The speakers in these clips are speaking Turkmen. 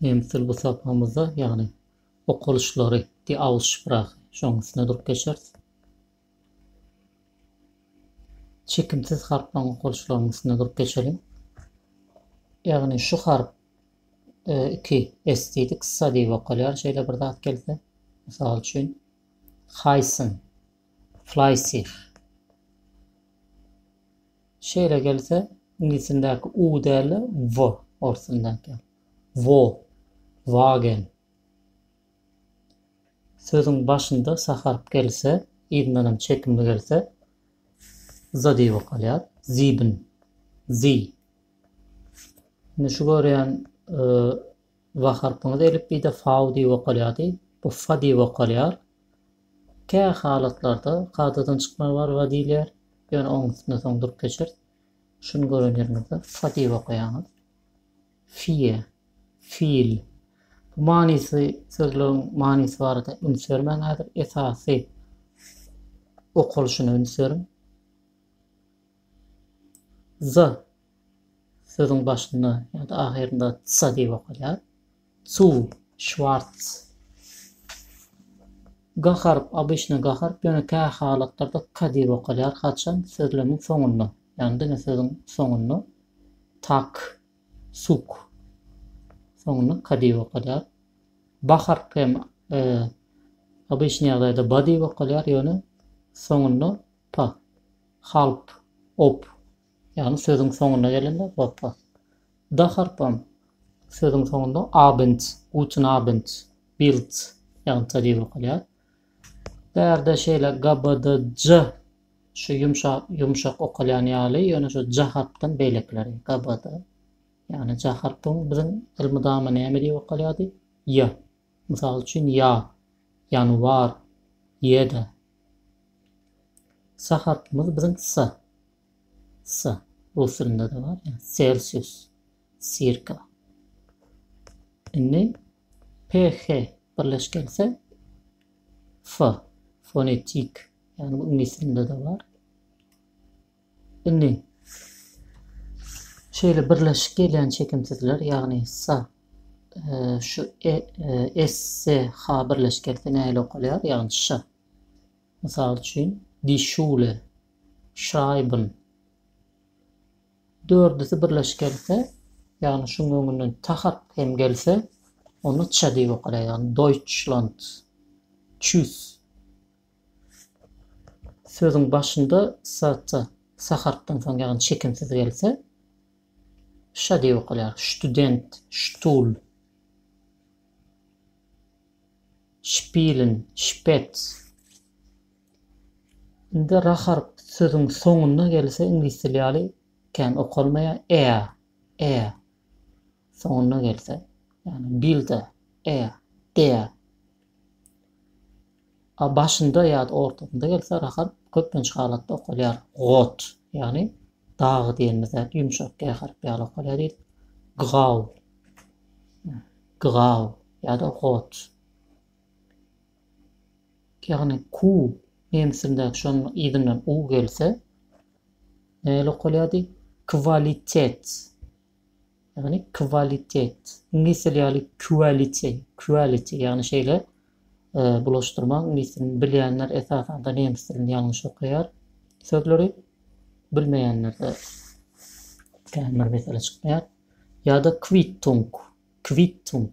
Nemsdil bu sapamyzda, ýagny okalyşlary, die Aussprache, şonuň üstünde durup geçeris. Çekimsiz harplaryň okalyşlarynyň üstünde durup geçeliň. Ýagny şu harp iki s diýdik, sa diýip okalýar, şeýle bir zat gelse. Mysal üçin, Haýsyn, Fleissig. Şeýle gelse, iňlisçindäki u däl-de w ors dilindäki. Wo, wagen. Sözüň başynda sa harp gelse, yzyndan hem çekimli gelse, za diýip okalýar. Sieben, sie. Indi şu görýän w harpyňyz elipbiýde fau diýip okalýardy. Bu fa diýip okalýar. Kä halatlarda kadadan çykma barga diýilýär. Ýöne oň üstünde soň durup geçeris. Şuny gören ýeriňizde fa diýip okaýaňyz. Fie, fil. Bu manysy sözlügiň manysy barada üns bermäň häzir. Esasy okalyşyna üns beriň. Za sözüň başynda ýa-da ahyrynda sa diýip okalýar. Cu. Şwarts. Ga harp obyçny ga harp, ýöne kä halatlarda ka diýip okalýar, haçan, sözlemiň soňunda, ýagny diňe sözüň soňunda, tak, suk, soňunda ka diýip okalýar. Ba harp hem obyçny ýagdaýda ba diýip okalýar, ýöne soňunda pa, halp, op, Ýagny sözüň soňuna gelende gopga. D harpam sözüň soňunda Abend, Guten Abend, Bild ýagnyça diýip okalýar. Bu ýerde şeýle GBD, J şu ýumşak, ýumşak okalýan ýaly, ýöne şu J harpdan beýlekileri GBD. Ýagny J harpyň biziň elmydama näme diýip okalýardy? Ýa. Mysal üçin ýa, ýanwar, ýe-de. S harpymyz biziň S. Sa, ruslrynda-da bar ýa, Celsius, Circa. Indi PH birleş gelse, F, Fonetik, ýagny bu iňlis dilinde-de bar. Indi şeýle birleşik gelýän çekimsizler, ýagny sa, şu e, e, s, s, h birleş gelse nähili okalýar, ýagny ş. Mysal üçin, Die Schule, Schreiben. Dördüsi birleşik gelse, ýagny şunuň öňünden ta harp hem gelse, onda ç diýip okalýar, ýagny Deutschland. Tschüss. Sözüň başynda sa ta sa harpdan soň, ýagny çekimsiz gelse, ş diýip okalýar, Student, Stuhl. Spielen, Spez. Indi ra harpy sözüň soňunda gelse iňlis dili ýaly kän okalmaýar, ea, ea, soňunda gelse, ýagny bilda, ea, dea. A başynda ýa-da ortasynda gelse, rahat, köplenç halatda okalýar. Got, ýagny dagy diýenimiz zat ýumşak g harpy ýaly okalýar diýdik. Ggaw, ggaw ýa-da got. Ýagny ku nemes dilindäki şonuň yzyndan u gelse, nähili okalýardy? Kwalitet, Ýagny kwalitet. Iňlis dili ýaly quality, quality ýagny şeýle bulaşdyrma iňlis dilini bilýänler esasanda nemes dilini ýalňyş okaýar sözleri bilmeýänlerde kän bir mesele çykmaýar ýa-da Quittung, Quittung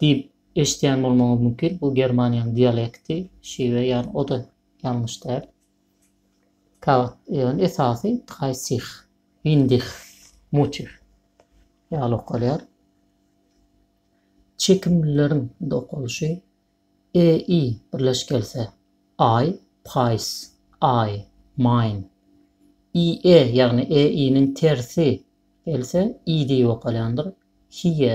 Diýip, eşidýän bolmagyňyz mümkin. Bu Germaniýanyň dialekti, şiwe, ýagny o-da ýalňyş däl. Kagat, ýagny esasy dreissig, windih, mutih ýaly okalýar. Çekimlileriň indi okalyşy, e, i birleş gelse, aý, paýs, aý, maýn. I, e, ýagny e, i-niň tersi gelse, i diýip okalýandyr, hiýe.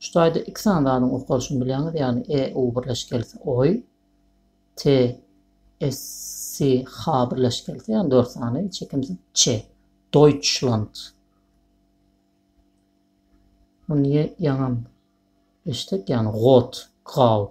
Şu taýda iki sany zadyň okalyşyny bilýäňiz, ýagny e, u birleşik gelse, oý, t, s, s, h birleşik gelse, ýagny dört sany, çekimsiz ç, Deutschland. Muny ýaňam eşitdik, ýagny got, grau.